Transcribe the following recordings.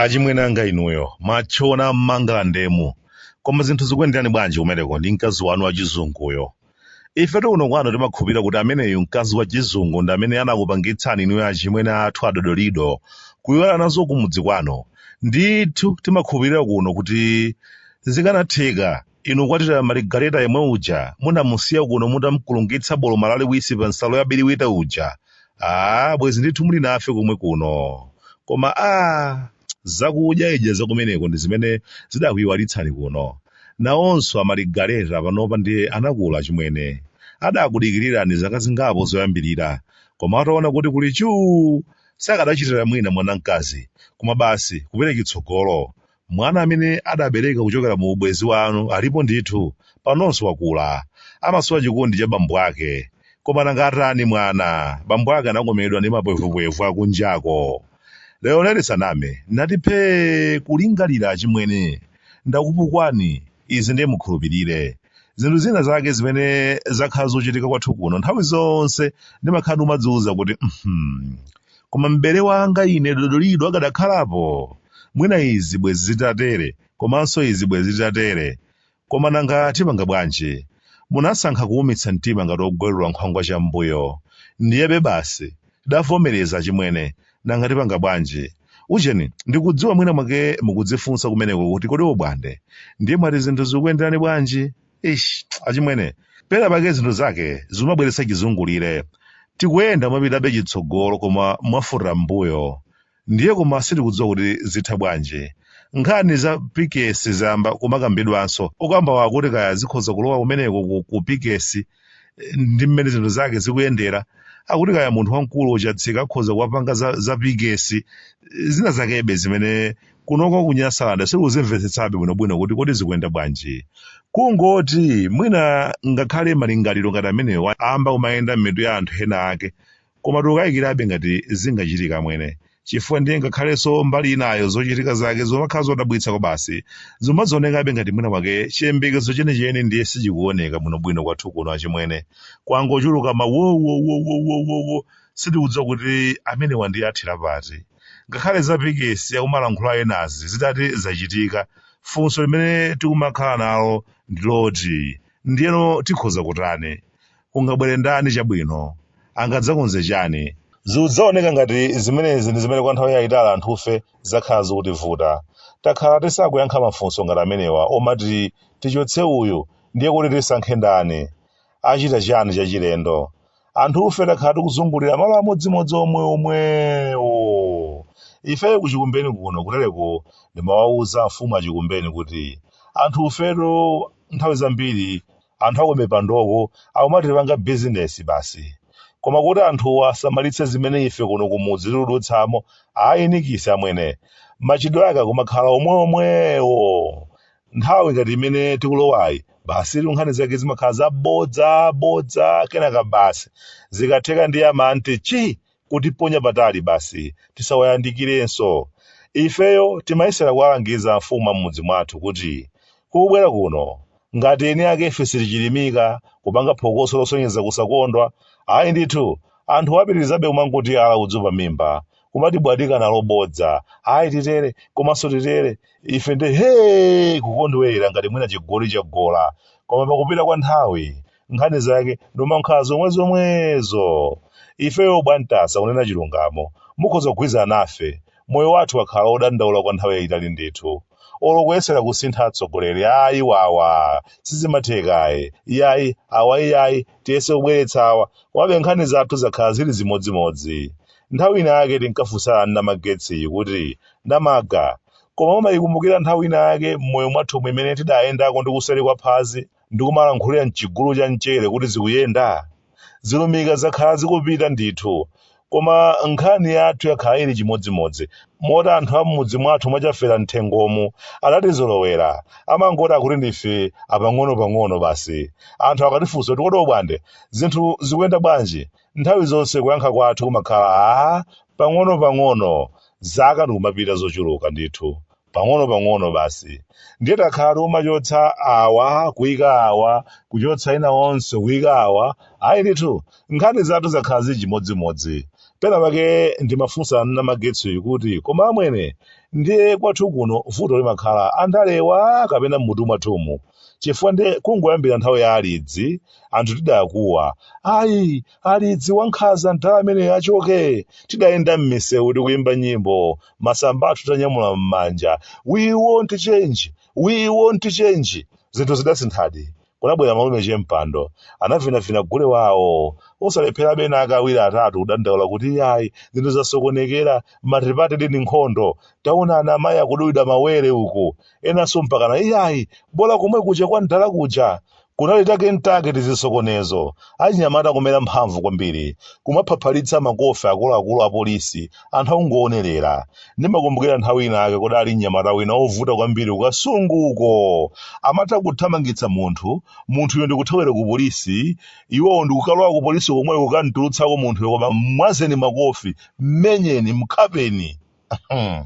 achimwenanga inuyo matchona m'mangalandemu koma zinthu zikuyenderani bwanji kumeneko ndi mkazi wanu wachizunguyo Ifetu kuno kwanu timakhulupirira kuti ameneyu mkazi wa chizungu ndi amene anakupangitsani inuyo achimwene athu adodolido kuiwala nazo kumudzi kwanu. Ndithu timakhulupirira kuno kuti zikanatheka inu kukwatira Maligareta yemwe uja munamusiya kuno mutamkulungitsa boloma laliwisi pa nsalu ya biriwita uja. Aaa bwezi ndithu muli nafe komwe kuno. Koma aah! Zakudyaidya zakumeneko ndi zimene zidakuiwalitsani kuno. Nawonso a Marigareta panopa ndiye anakula achimwene. Adakudikirirani zaka zingapo zoyambirira, koma ataona kuti kuli chuu, sakadachitira mwina mwana mkazi, koma basi kupenya chitsogolo. Mwana amene adabereka kuchokera mu ubwenzi wanu alipo ndithu, panonso wakula. Amasowa chikondi cha bambo ake. Koma nanga atani mwana? Bambo ake anakomedwa ndi mapwevupwevu akunjako. Lero nali saname, nati phee kulingalira achimwene, ndakupukwani, izi ndiye mukhulupirire. Zinthu zina zake zimene zakhala zochitika kwathu kuno nthawi zonse ndimakhala ndikumadziwuza kuti "Mhm, koma m'bale wanga ine dodolido akadakhalapo mwina izi bwezi zitatere komanso izi bwezi zitatere Koma nanga tipanga bwanji? Munasankha kuumitsa mtima ngati ogwerula nkhwangwa cham'mbuyo. Ndiyebe basi, tidavomereza achimwene, nanga tipanga bwanji? Ujeni, ndikudziwa mwina mwake mukudzifunsa kumeneko kuti kodi Obwande, ndiye mwati zinthu zikuyenderani bwanji? Eish, achimwene, pena pake zinthu zake zikumabweretsa chizungulire. Tikuyenda kumapitabe chitsogolo koma mwafuta m'mbuyo. ndiye koma sitikudziwa kuti zitha bwanji. Nkhani za pikesi zayamba kumakambidwanso. Okambawo akuti kaya zikhoza kulowa kumeneko ku, ku pikesi eh, ndi mmene zinthu zake zikuyendera. Akuti kaya munthu wamkulu Chatsika akhoza kuwapanga za, za pikesi eh, zina zakebe zimene kunoko ku Nyasalande sikuzimvetsetsabe bwinobwino kuti kodi zikuyenda bwanji. Kungoti mwina ngakhale malingaliro ngati amenewa amba kumayenda m'mitu ya anthu ena ake Koma tikukayikirabe ngati zingachitika amwene, chifukwa ndiye ngakhalenso mbali inayo zochitika zake zikumakhala zodabwitsa kwabasi, zikumadzionekabe ngati mwina mwake chiyembekezo chenicheni ndiye sichikuoneka bwinobwino kwathu kuno achimwene. Kwangochuluka ma wowowowowowowo sitikudziwa kuti amenewa ndiye athera pati. Ngakhale za pikesi akumalankhula enazi zitati zachitika, funso limene tikumakhala nalo ndi loti ndiyeno tikhoza kutani? Kungabwere ndani chabwino? Angadzakonze chani? Zidzaoneka ngati zimenezi ndi zimene kwa nthawi yaitali anthufe zakhala zikutivuta. Takhala tisakuyankha mafunso ngati amenewa omati tichotse uyu ndiye kuti tisankhe ndani? Achita chani chachilendo? Anthufe takhala tikuzungulira malo amodzimodzi omweomwewo. Ife ku Chikumbeni kuno kutereku ndimawauza amfumu a Chikumbeni kuti anthufetu nthawi zambiri anthu akumipandoku akumatipanga bizinesi basi. Koma kuti anthuwa asamalitse zimene ife kuno kumudzi tiludutsamo, ayi nikisi amwene. Machitidwe ake akumakhala omweomwewo. Nthawi ngati imene tikulowayi, basitu nkhani zake zimakhala zabodzabodza, kenaka basi. Zikatheka ndiye amanti chi! kutiponya patali basi tisawayandikirenso. Ifeyo timayesera kuwalangiza amfumu a m'mudzi mwathu kuti, Kubwera kuno, ngati eni akefe sitichirimika, kupanga phokoso losonyeza kusakondwa, ayi ndithu, anthuwo apitirizabe kumangotiyala udzu pamimba, kumatibwatika nalo bodza, ayi titere, komanso titere, ife nde hee! kukondwerera ngati mwina chigoli chagola. Koma pakupita kwa nthawi, nkhani zake n'kumakhala zomwe zomwezo ifeyo bwantasa kunena chilungamo mukhoza kugwirizana nafe moyo wathu wakhala odandaula kwa nthawi yayitali ndithu olo kuyesera kusintha atsogoleri ayi wawa sizimathekayi iyayi awa iyayi tiyese kubweretsa awa komabe nkhani zathu zakhala zili zimodzimodzi nthawi ina yake tinkafunsana ndi namagetsi kuti namaga koma mumayikumbukira nthawi ina yake m'moyo mwathumu imene tidayendako ndi kuseri kwa phazi ndikumalankhulira m'chigulu cha mchere kuti zikuyenda? Zilumika zakhala zikupita ndithu. Koma nkhani yathu yakhala ili chimodzimodzi, moti anthu a m'mudzi mwathu mwa Chafera m'thengomu adatizolowera. Amangoti akuti ndife apang'onopang'ono basi. Anthu akatifunsa kuti kodi Obwande, zinthu zikuyenda bwanji? Nthawi zonse kuyankha kwathu kumakhala, Aa, pang'onopang'ono. Zaka ndikumapita zochuluka ndithu. pang'ono pang'ono basi ndiye takhala tikumachotsa awa kuyika awa kuchotsa ena onse kuyika awa ayi ndithu nkhani zathu zakhala zili chimodzimodzi pena pake ndimafunsa namagetsi kuti koma amwene ndiye kwathu kuno vuto limakhala andalewa kapena mmutu mwathumu chifukwa ndiye kungoyambira nthawi ya alidzi anthu tidakuwa ayi alidzi wankhaza mdala ameneyo achoke tidayenda m'misewu tikuyimba nyimbo masamba athu tanyamula m'manja we want change we want change zinthu zidasinthadi kunabwera malume che mpando anavinavina gule wawo osalepherabe ena ake awiri atatu kudandaula kuti yayi zinthu zasokonekera matipatidi ndi nkhondo taona ana amayi akudulidwa mawere uku enanso mpakana iyayi bola komwe kuja kwa mdala kuja kunali take ntake tizisokonezo achinyamata kumera mphamvu kwambiri kumaphaphalitsa makofi akuluakulu a polisi anthu akungoonelera ndimakumbukira nthawi ina ake kudali mnyamata wina ovuta kwambiri ku Kasunguko amatha kuthamangitsa munthu munthuyo ndikuthawira ku polisi iwowo ndikukalowa ku polisi komweko kamtulutsako munthuyo koma mwazeni makofi mmenyeni mkhapeni Hmm.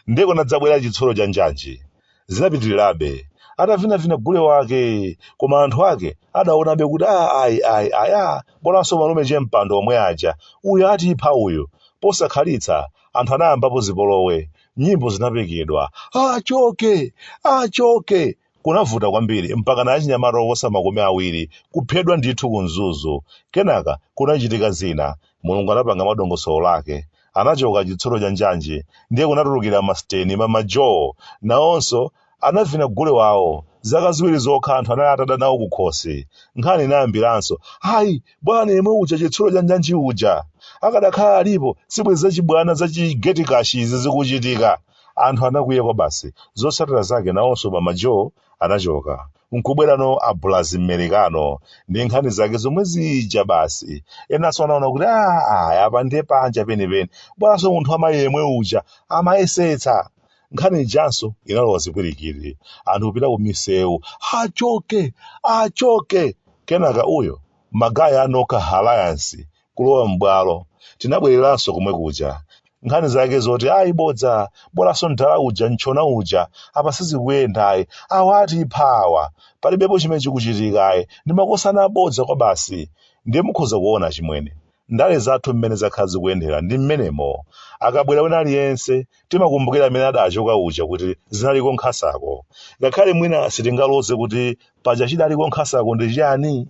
ndiye kunadzabwera chitsulo cha njanji zinapitirirabe atavinavina gule wake koma anthu ake adaonabe kuti a ayi ayi ayi a bolanso malume chempando omwe aja uyu atipha uyu posakhalitsa anthu anayambapo zipolowe nyimbo zinapekedwa achoke achoke Kunavuta kwambiri mpakana achinyamata oposa makumi awiri kuphedwa ndithu ku Mzuzu. Kenaka kunachitika zina. Mulungu anapanga madongosolo lake. Anachoka chitsulo cha njanji, ndiye kunatulukira masiteni, Mama Jo, nawonso anavina gule wawo. Zaka ziwiri zokha anthu anali atada nawo kukhosi. Nkhani inayambiranso, Ayi, bwana yemwe uja chitsulo cha njanji uja! Akadakhala alipo, sibwezi zachibwana za chi gate cash izi zikuchitika. Anthu anakwiya kwabasi. Zotsatira zake nawonso Mama Jo anachoka, n'kubwerano a Bulazi Mmerekano ndi nkhani zake zomwe zija basi. Enanso anaona kuti ayi apa ndiye panja penipeni, bolanso munthu wa mayi yemwe uja amayesetsa. Nkhani ijanso inalowa zipwirikiri. Anthu kupita kumisewu, achoke! Achoke! Kenaka uyo, magaya a Noka Alliance, kulowa m'bwalo. Tinabwereranso komwe kuja. Nkhani zake zoti ayi bodza, bolanso mdala uja, mtchona uja, apa sizikuyenda ayi, awa atipha awa, palibepo chimene chikuchitika ayi, ndi makosana abodza kwabasi. Ndiye mukhoza kuona achimwene, ndale zathu mmene zakhala zikuyendera ndi mmenemo. Akabwera wina aliyense, timakumbukira amene adachoka uja kuti zinaliko nkhasako. Ngakhale mwina sitingaloze kuti paja chidaliko nkhasako ndi chiyani?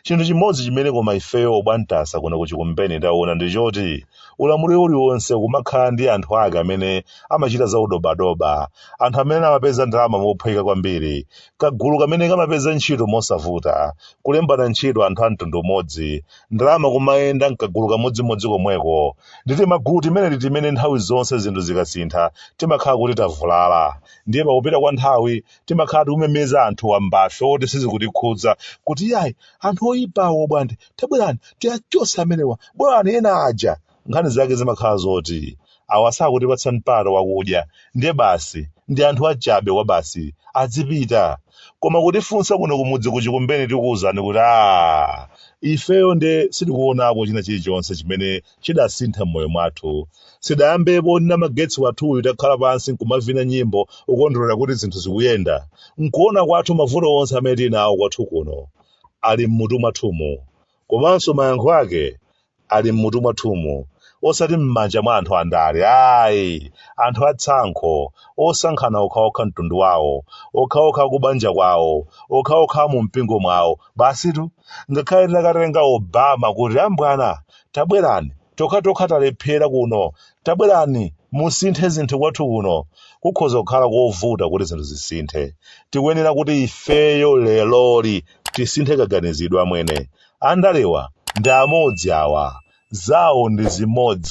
Chinthu chimodzi chimene koma ifeyo obwantasa kuno ku Chikumbeni taona ndi choti ulamuliro uliwonse kumakhala ndi anthu ake amene amachita za udobadoba, anthu amene amapeza ndalama mophweka kwambiri, kagulu kamene kamapeza ntchito mosavuta, kulembana ntchito anthu a mtundu umodzi, ndalama kumayenda m'kagulu kamodzimodzi komweko. Ndi timagulu timeneti timene nthawi zonse zinthu zikasintha timakhala kuti tavulala. Ndiye pakupita kwa nthawi timakhala tikumemeza anthu wambafe oti sizikutikhudza kuti iyayi anthu oyipa Obwande tabwerani tiwachose amenewa bwerani ena aja nkhani zake zimakhala zoti awa sakutipatsa mpata wakudya ndiye basi ndi anthu achabe kwa basi adzipita koma kutifunsa kuno kumudzi kuchikumbeni tikuwuzani kuti a ifeyo nde sitikuonako china chilichonse chimene chidasintha m'moyo mwathu. Sidayambepo ine ndi magetsi wathuyu takhala pansi nkumavina nyimbo ukondwerera kuti zinthu zikuyenda. Nkuona kwathu mavuto onse amene tili nawo kwathu kuno ali m'mutu mwathumu. Komanso mayankho ake ali m'mutu mwathumu osati m'manja mwa anthu andale ayi anthu atsankho osankhana okhaokha mtundu wawo okhaokha kubanja kwawo okhaokha mu mpingo mwawo basitu ngakhale takatenga Obama kuti ambwana Tabwerani, tokhatokha talephera kuno. Tabwerani, musinthe zinthu kwathu kuno. Kukhoza kukhala kovuta kuti zinthu zisinthe. Tikuyenera kuti ifeyo leroli tisinthe kaganizidwe amwene. Andalewa ndi amodzi awa. Zawo ndi zimodzi.